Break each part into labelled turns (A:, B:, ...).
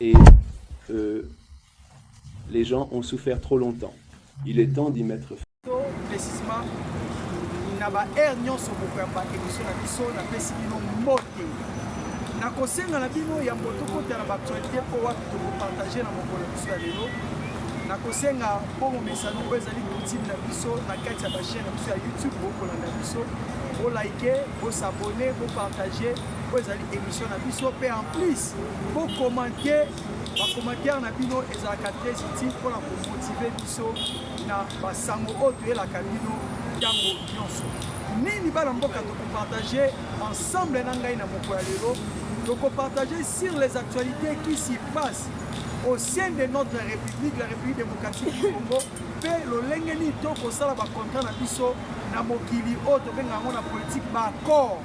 A: Et euh, les gens ont souffert trop longtemps. Il est temps d'y mettre fin. Précisément, na ba air nyonso bokoyamba émission na
B: biso napesi bino mbote nakosenga na bino ya mboto kota na baactualité mpo wapi tokopartage na mokolo biso ya lelo nakosenga mpo momesano oyo ezali kotime na biso na kati ya bachaine na biso ya youtube bokolanda biso bolike bosabone bopartage oyo ezali émission na biso mpe en plus bokomante bacommentaire na bino ezalaka très utile mpona komotive biso na basango oyo toyelaka bino ntango nyonso nini bana mboka tokopartage ensemble na ngai na moko ya lelo tokopartage sur les actualités qui s'y passent au sein de notre république la république démocratique du congo mpe lolenge nini tokosala bacontra na biso na mokili oyo tobenga yango na politike baaccord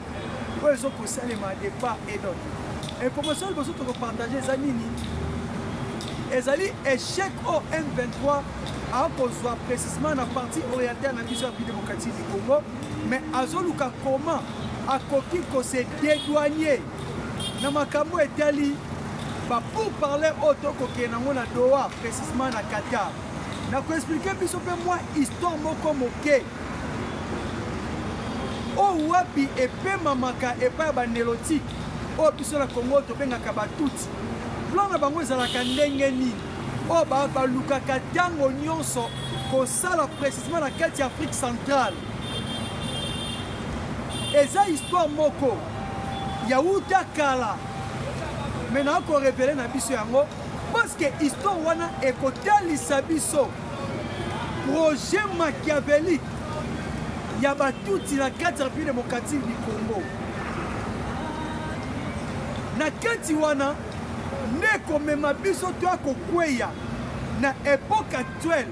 B: oyo ezo kosalema de part et d'autre information liboso tokopartage eza nini ezali échec o m23 akozwa précisement na partie orientale na biso ya pi démocratique du congo mais azoluka comment akoki kose dédouanier na makambo etali bapourparler oyo tokokende yango na doha précisement na qatar na koexplike biso mpe mwa histoire moko moke Oyo wapi epemamaka epai ya banelotike oyo biso na Kongo tobengaka batuti. Plan na bango ezalaka ndenge nini? Oyo balukaka ntango nyonso kosala precisement na kati ya Afrique centrale. Eza histoire moko ya uta kala me na korevele na biso yango paske histoire wana ekotalisa biso Projet machiavélique ya Batutsi na kati ya République démocratique du Congo. Na kati wana nde ekomema biso toya kokweya na epoque actuelle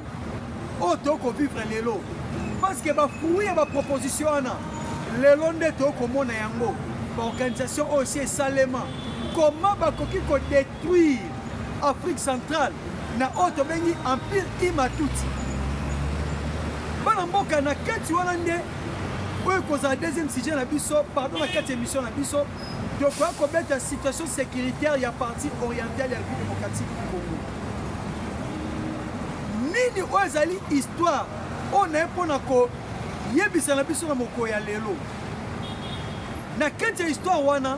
B: oyo toyoko vivre lelo parce que bafruit ya baproposition wana lelo nde toyoko komona yango baorganisation oyo si esalema koma bakoki kode Detruire Afrique centrale na oyo tobengi empire Imatuti. Bana mboka na kati wana nde oyo ekozala deuxième sujet na biso pardon na kati ya émission na biso tokoya kobeta situation sécuritaire ya partie orientale ya république démocratique du congo nini oyo ezali histoire oyo naye mpo na koyebisa na biso na mokolo ya lelo na kati ya histoire wana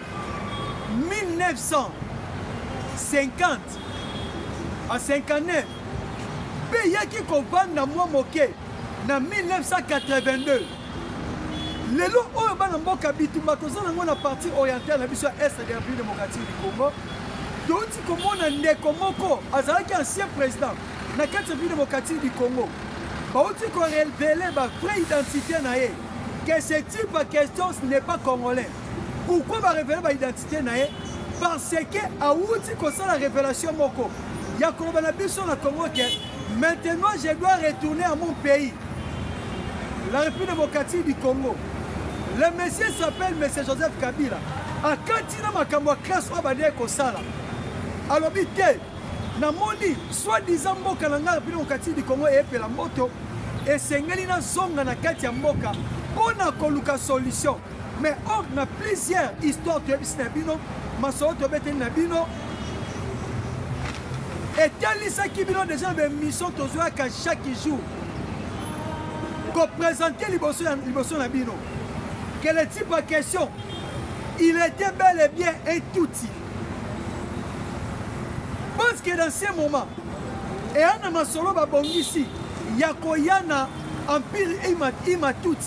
B: 1950 a 59 mpe eyaki kovanda mwa moke na 1982 lelo oyo bana mboka bitumba toza nango na partie orientale na biso ya est de république démocratique du congo touti komona ndeko moko azalaki ancien président na kati ya république démocratique du congo bauti korevele ba vraie identité na ye que ce type ya question ce n'est pas congolais Pourquoi ba révéler ba identité na ye? Parce que awuti kosala révélation moko ya koloba na biso na Congo que maintenant je dois retourner à mon pays, la République démocratique du Congo. Le monsieur s'appelle Monsieur Joseph Kabila. Akati na makambo ya classe oyo abandaki kosala. Alobi te namoni soi-disant mboka na ngai République démocratique du Congo eyepela moto esengeli nazonga na kati ya mboka mpo na koluka solution Mais or na plusieurs histoires toyebisi na bino masolo tobeteli na bino etalisaki bino deja na baémission tozwaka chaque jour koprésente liboso na bino que le type ya question il était bel et bien un tutsi pense que dans ce moment eya na masolo babongisi ya koya na empire imatuti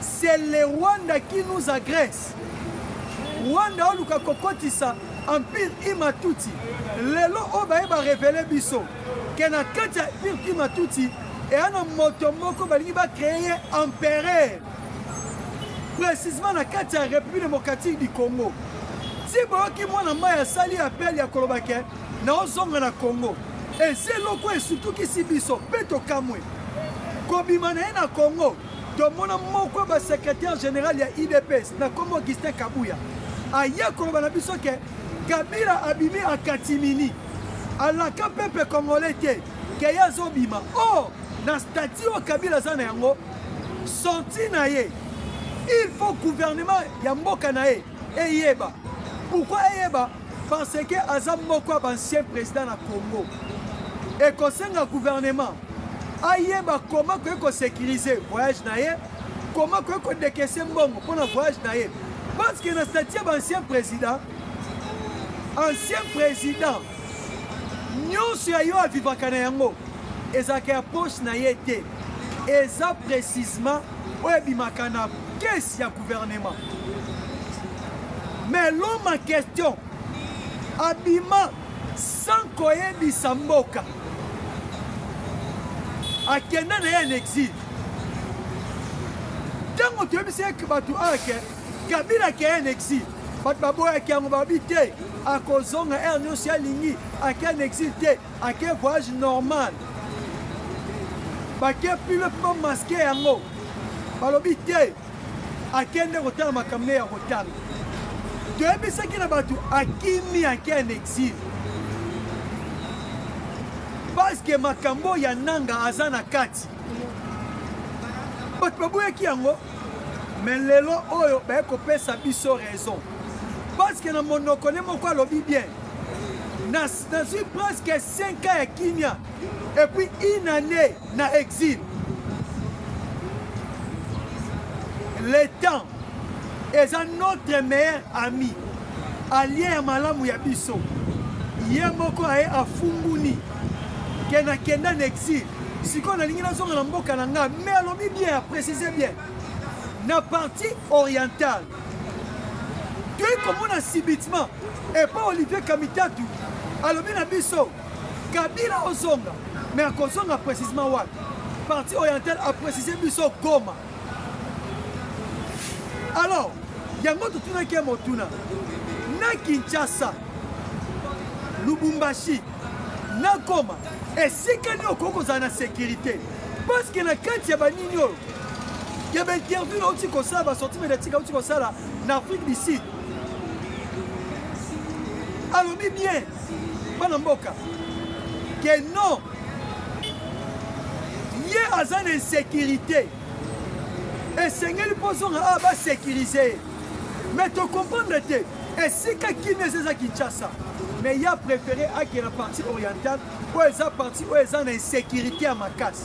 B: C'est le Rwanda qui nous agresse. Rwanda oluka kokotisa empire Imatutsi. Lelo oyo baye ba revele biso ke na kati ya empire Imatutsi eya na moto moko balingi ba créer ye empereur précisément na kati ya République démocratique du Congo. Ti boyoki mwana mai asali appel ya koloba ke naozonga na Congo. Eza eloko esutukisi biso mpe tokamwe kobima na ye na Congo. Tomona moko ya ba secrétaire général ya IDPS na kombo Augustin Kabuya aye koloba na biso ke Kabila abimi akatimini alaka pepe congolais te ke ye azobima o oh, na stati oyo Kabila aza na yango sorti na ye il faut gouvernement ya mboka na ye eyeba pourquoi eyeba Parce que aza moko ya bancien président na Congo. Ekosenga gouvernement ayeba koma koki kosécurise voyage na ye koma koki kodekese mbongo mpo na voyage na ye parce que na stati ya baancien président ancien président nyonso ya yo avivaka na yango ezalaka ya poche na ye te eza précisement oyo ebimaka na kesi ya guvernema mais l'homme en question abima sans koyebisa mboka akenda na ye na exile ntango toyebisi eke bato awa ke kabila akeye na exile bato baboyaki yango babi te akozonga ere nyonso alingi akeye na exile te Ake voyage normal. Bake pilo pa masque yango. Balobi te akende kotala makambo ya kotanga. Toyebisaki na bato akimi ake en exil. Parce que makambo ya nanga aza na kati. Bato baboyaki yango. Mais lelo oyo baye kopesa biso raison. Parce que na monoko ne moko alobi bien. Nazui presque 5 ans ya kimia et puis une année na exil. Le temps eza notre meilleur ami, allié ya malamu ya biso. Ye moko aye afunguni ke nakenda na exil sikoyo nalingi nazonga na mboka na ngai me alobi bien aprécise bien na partie orientale toyei komona subitement epa olivier kamitatu alobi na biso kabila ozonga me akozonga précisement wapi parti oriental aprécise biso goma alors yango totunaki ye motuna na kinshasa lubumbashi na goma esika nini okoki kozala na sécurité parceke na kati ya banini oyo Keba interview na uti kosala ba sortie médiatique uti kosala na Afrique du Sud. Alobi bien bana mboka que non ye aza na insécurité esengeli mpo ozonga awa basécurise ye mais tocomprendre te esika kimia eza eza kinshasa mais ya préféré akenda partie orientale oyo eza partie oyo eza na insécurité ya makasi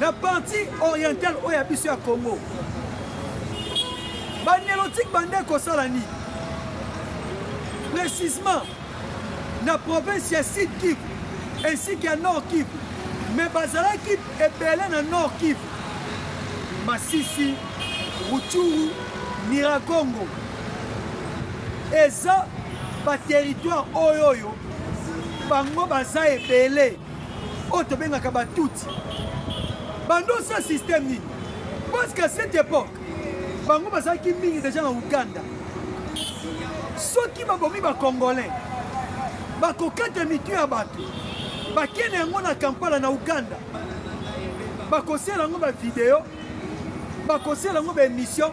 B: na partie orientale oyo ya biso ya congo banelotike bande kosala nini précisement na province ya sud kivu ainsi que ya nord kivu mais bazalaki ebele na nord kivu masisi ruchuru miragongo eza baterritoire oyo oyo bango baza ebele oyo tobengaka batuti bandosa système nini parce qu'à cette époque bango bazalaki mingi deja na uganda soki babomi bacongolais bakokata mitu ya bato bakende yango na kampala na uganda bakosela yango bavideo bakosala yango ba émission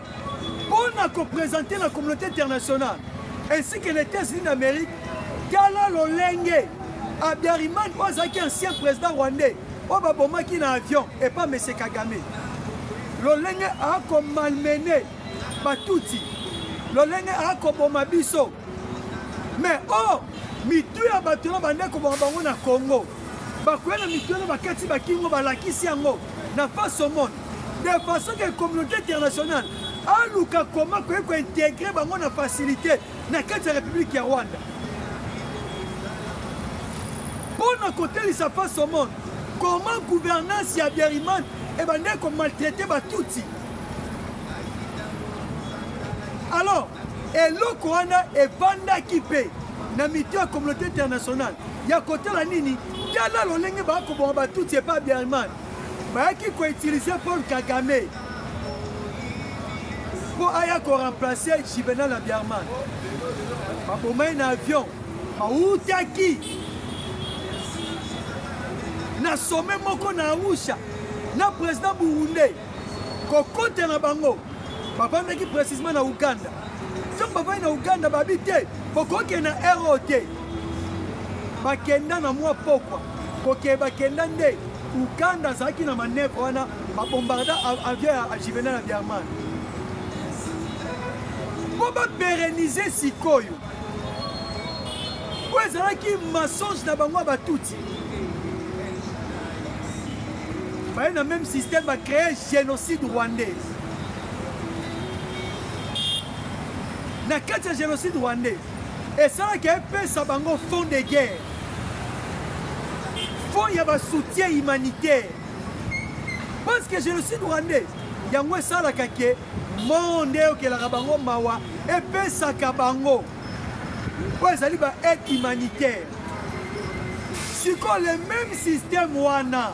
B: mpo na kopresente na communauté internationale ainsi que les états-unis d'amérique tala lolenge abiariman oyo azalaki ancien président rwandais oyo babomaki na avion epa monsieur kagame lolenge akomalmene batuti lolenge akoboma biso mais o oh, mitu ya bato na bande koboma bango na congo Bakueya na mitu wana bakati bakingo balakisi yango na face au monde de façon que communauté internationale aluka koma koye kointegre bango na facilité na kati ya république ya rwanda mpo na kotelisa face au monde comment gouvernance ya biariman ebandaki komaltraite batutsi alors Eloko wana evandaki mpe na mitu ya communauté internationale ya kotala nini tala lolenge bakoboma batutsi epa biarman bayaki koutilize paul kagame mpo aya koremplace juvenal ya biarman baboma ye na avion bautaki na some moko na arusha na président burundais kokota na bango bavandaki precisement na uganda ntango bavandi na uganda babi te bokokenda ero te bakenda na mwa pokwa kokee bakenda nde uganda azalaki na manevre wana babombarda avion ya juvenal ya biarman mpo baperenize sikoyo oyo ezalaki mensonge na bango ya batuti baye na même système ba créer génocide rwandais na kati ya génocide rwandais esalaki epesa bango fond de guerre fond ya basoutien humanitaire parce que génocide rwandais yango esalaka ke monde eyokelaka bango mawa epesaka bango oyo ezali ba aide humanitaire sikoyo le même système wana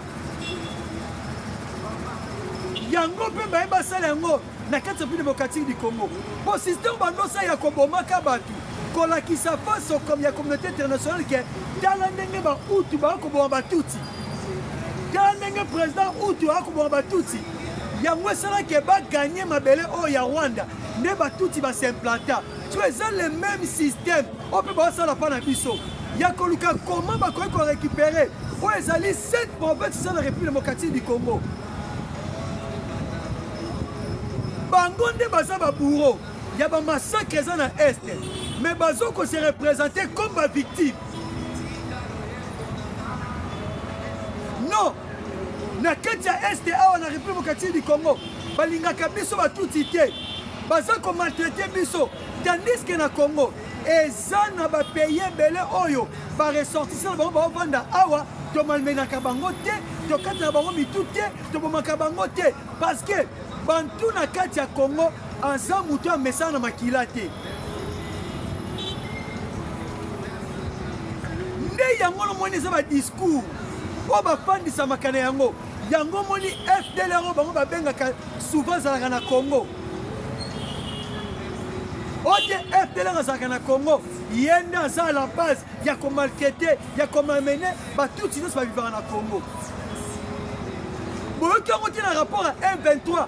B: yango mpe baye basala yango na kati ya pine bokatiki di congo mpo système bandosa ya kobomaka bato kolakisa faso comme ya communauté internationale ke tala ndenge bautu baya koboma batuti tala ndenge président utu aya koboma batuti yango esalaki baganye mabele oyo ya rwanda nde batuti basimplanta to eza le meme système oyo mpe baosala mpa na biso ya koluka koma bakoki korécupere oyo ezali cette province eza na république démocratique du congo bango nde baza babouro ya bamassacre eza na est mais bazo ko se représente comme bavictime non na kati ya est awa na république démocratique du congo balingaka biso batuti te Baza ko maltraiter biso tandis que na Congo eza na ba pays ebele oyo ba ressortissants bango ba vanda awa to malmenaka bango te to kataka bango mitu te to bomaka bango te parce que bantu na kati ya Congo aza mutu amesana na makila te nde yango lomoni eza ba discours oyo bafandisamaka na yango Yango omoni FDLR oyo bango babengaka souvent azalaka na Congo ote FDLR azalaka na Congo ye nde aza à la base ya komalkete ya komamene batutsi nyonso babivaka na Congo boyoki yango te na rapport ya M23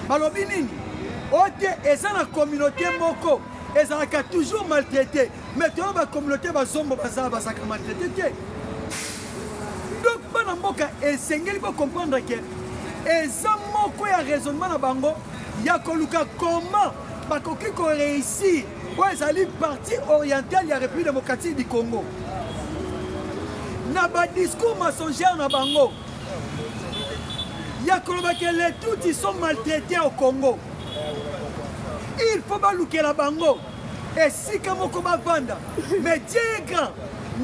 B: balobi nini ote eza na communauté moko ezalaka toujours maltraité mais toyo ba communauté bazombo baza bazaka maltraite te donc bana mboka esengeli bocomprendre ke eza moko ya raisonnement na bango ya koluka comment bakoki koreusir oyo ezali partie orientale ya république démocratique du congo na badiscours mensongère na bango ya koloba ke les tutsi sont maltraité au congo il faut balukela bango esika moko bavanda mais dieu est grand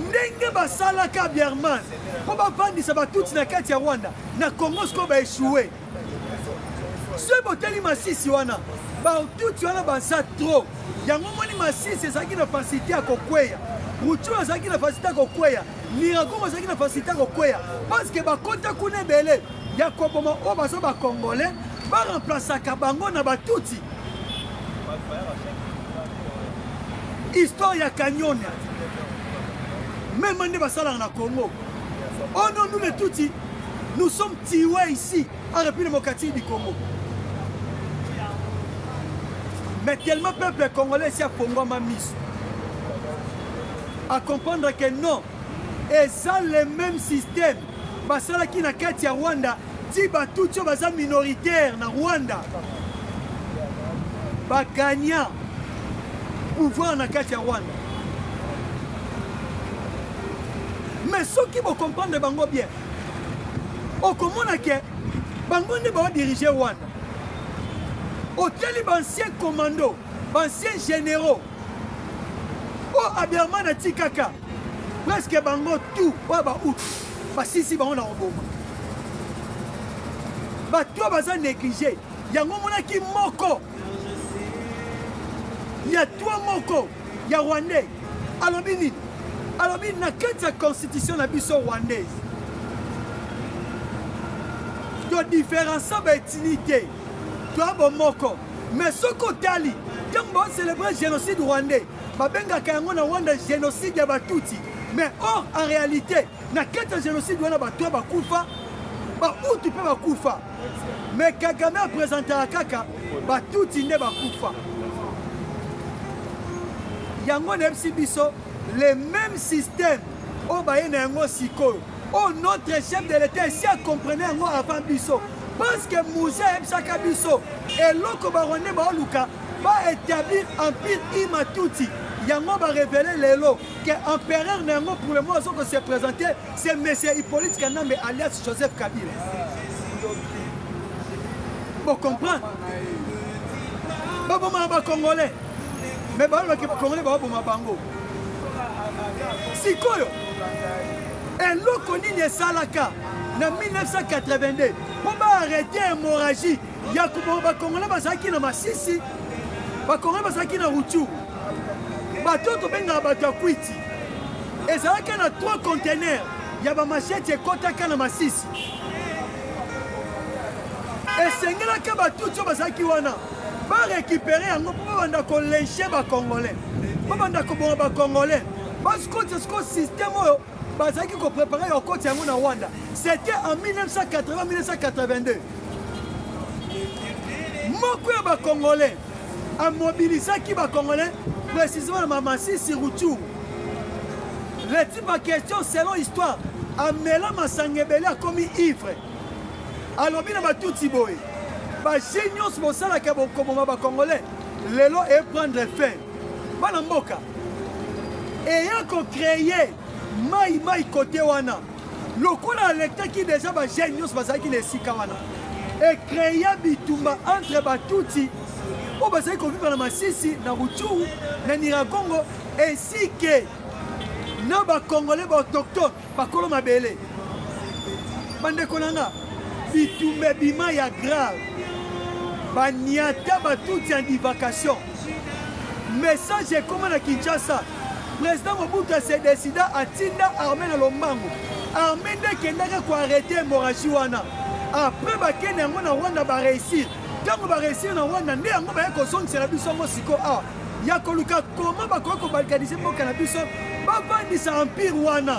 B: ndenge basalaka bierman mpo bavandisa batutsi na kati ya rwanda na congo sikoyo baechoue soki botali masisi wana batutsi wana baza trop yango moni masisi ezalaki na fasilite ya kokweya rucuru azalaki na fasilite ya kokweya niragongo azalaki na fasilite ya kokweya parceke bakota kuna ebele ya koboma oyo baza bakongole baremplasaka bango na batutsi histoire ya kanyonia meme nde basalaka na congo oh non nous les tutsi nous sommes tiwe ici en république démocratique du congo mais tellement peuple congolais esi afongwama miso à comprendre que non Eza le meme système basalaki na kati ya Rwanda ti batutsi oyo baza minoritaire na Rwanda bagagna pouvoir na kati ya Rwanda mais soki bocomprendre bango bien okomona ke bango nde baodirige Rwanda otali baancien commando baancien généraux oyo abiarman atikaka Presque bango tout oyo ba out basisi bango na koboma bato oyo baza néglige yango omonaki moko ya twa moko ya rwandais alobi nini alobi na kati ya constitution na biso rwandaise todifférença baetini te toya bomoko mais soki otali ntango baocelebre génocide rwandais Babengaka yango na Rwanda genocide ya Batutsi, mais or en réalité na kati ya genocide wana bato bakufa, Bahutu mpe bakufa, mais Kagame apresentaka kaka Batutsi nde bakufa. Yango nayebisi biso le même système oyo baye na yango sikoyo oyo notre chef de l'État esi akomprene yango avant biso parce que muze ayebisaka biso eloko barwandais baoluka Ba etablir empire Imatuti. Yango ba revele lelo que empereur na yango pour le moment azoko se présenter c'est monsieur Hippolyte Kanambe alias Joseph Kabila. Bo comprendre? Ba boma ba congolais. Mais ba loki ba congolais ba boma bango. Sikoyo eloko nini esalaka na 1982 mpo baarrete hémorragie ya koboma bakongole bazalaki na masisi bakongole bazalaki na ruchuru bato oyo tobengaka bato ya kwiti ezalaki na 3 contener ya bamasheti ekotaka na masisi esengelaki batuti oyo bazalaki wana barekipere yango mpo babanda kolenshe bacongolais babanda koboma bacongolais basikoti siko systeme oyo bazalaki koprepare ya kokoti yango na rwanda c'était en 1980 1982 moko ya bacongolais amobilisaki bacongolais précisément na mamasisi rutu leti baquestion selon histoire amela masanga ebele akomi ivre alobi na batuti boye baje nyonso bosalaka bokoboma bacongolais lelo eprendre fin bana mboka eya kocreye mai mai kote wana Lokola alekaki deja ba jeunes nyonso bazalaki na esika wana ecrea bitumba entre batutsi oyo bazali kovivre na masisi na ruchuru na niragongo ainsi ke na bacongolais baautochtone bakolo mabele bandeko na nga bitumba ebima ya grave baniata batutsi ya divacation message ekoma na kinshasa President Mobutu a se decida atinda armee na lombango. Armee nde ekendaki ko arrete hemorragie wana. Après bakende yango na Rwanda ba réussir. Ntango ba réussir na Rwanda nde yango baye kozongisela biso yango siko awa ya koluka koma bakoki kobalkanize mboka na biso bavandisa empire wana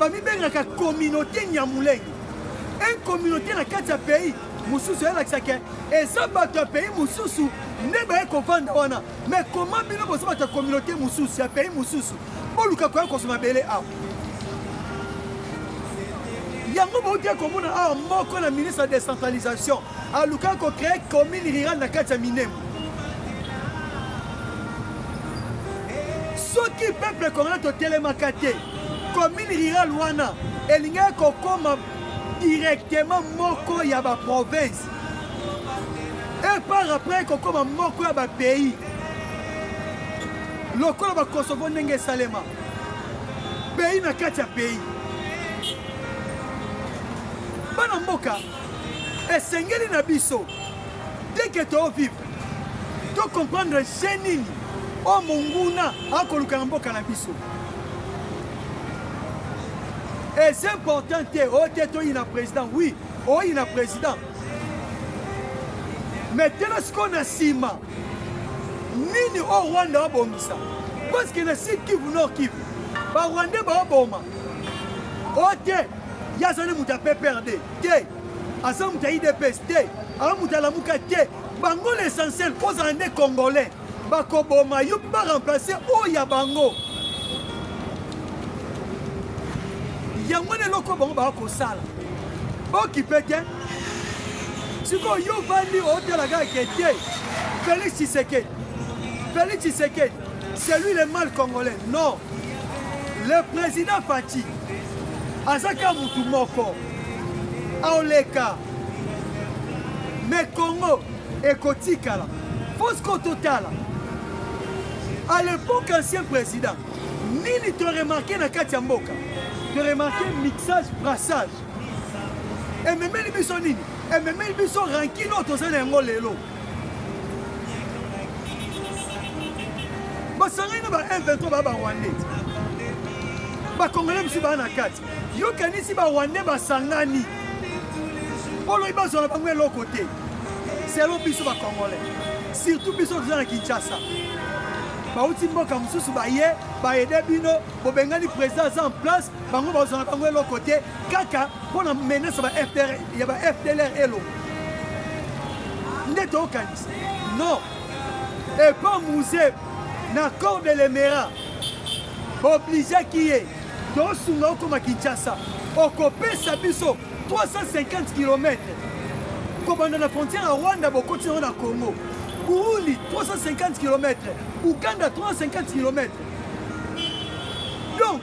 B: bamibengaka communauté nyamulenge un communauté na kati ya pays mosusu eyalakisa ke eza bato ya pays mosusu nde baye kovanda wana mais koma bino boza bato ya communauté mosusu ya pays mosusu boluka koya kozwa mabele awa yango bauti komona awa moko na ministre ya décentralisation alukaki kocree commune rurale na kati ya minemo Soki peuple congolais totelemaka te, commune rurale wana elingaki kokoma directement moko ya ba province et par après kokoma moko ya ba pays lokola ba Kosovo ndenge esalema pays na kati ya pays bana mboka esengeli na biso teke to vivre to comprendre je nini oyo monguna akoluka na mboka na biso eza important te oyo te toyina président oui oyina président mais tela sikoyo na nsima nini oyo rwanda babongisa parce que na sud kivu nord kivu barwandais baoboma oyo te Ye azali moto ya PPRD te, aza moto ya IDPS te, aza moto ya Lamuka te. Bango l'essentiel kozala nde Congolais, bakoboma yo ba remplacer oyo ya bango. Yango na eloko bango baka kosala bokipe te. Sikoyo yo vandi otala kaka ke te Felix Tshisekedi, Felix Tshisekedi C'est lui le mal congolais. Non. Le président Fatih azaka mutu moko aoleka me Congo ekotikala fausse ko totala à l'époque ancien président nini to remarqué na kati ya mboka to remarqué mixage brassage ememeli biso nini ememeli biso rankine oyo tozali na yango lelo basangani na ba m23 baa barwandais bakongole mosusu baa na kati yokanisi barwandais basangani poloyi bazwa na bango eloko te selo biso bakongole surtout biso toza na kinshasa bauti mboka mosusu baye baede bino bobengani président aza en place Bango bazwa na bango eloko te kaka mpo na menace ya ba FDLR elo nde tokanisa non epa musee na corps de lemera bobligeaki ye tosunga okoma kinshasa okopesa biso 350 km kobanda na frontière ya rwanda bokoti yango na congo burundi 350 km uganda 350 km donc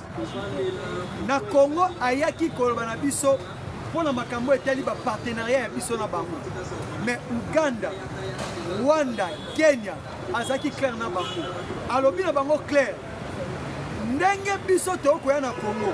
B: na Congo ayaki koloba na biso mpo na makambo etali bapartenariat ya biso na bango mais Uganda Rwanda Kenya azalaki claire na bango alobi na bango claire ndenge biso tokoya na Congo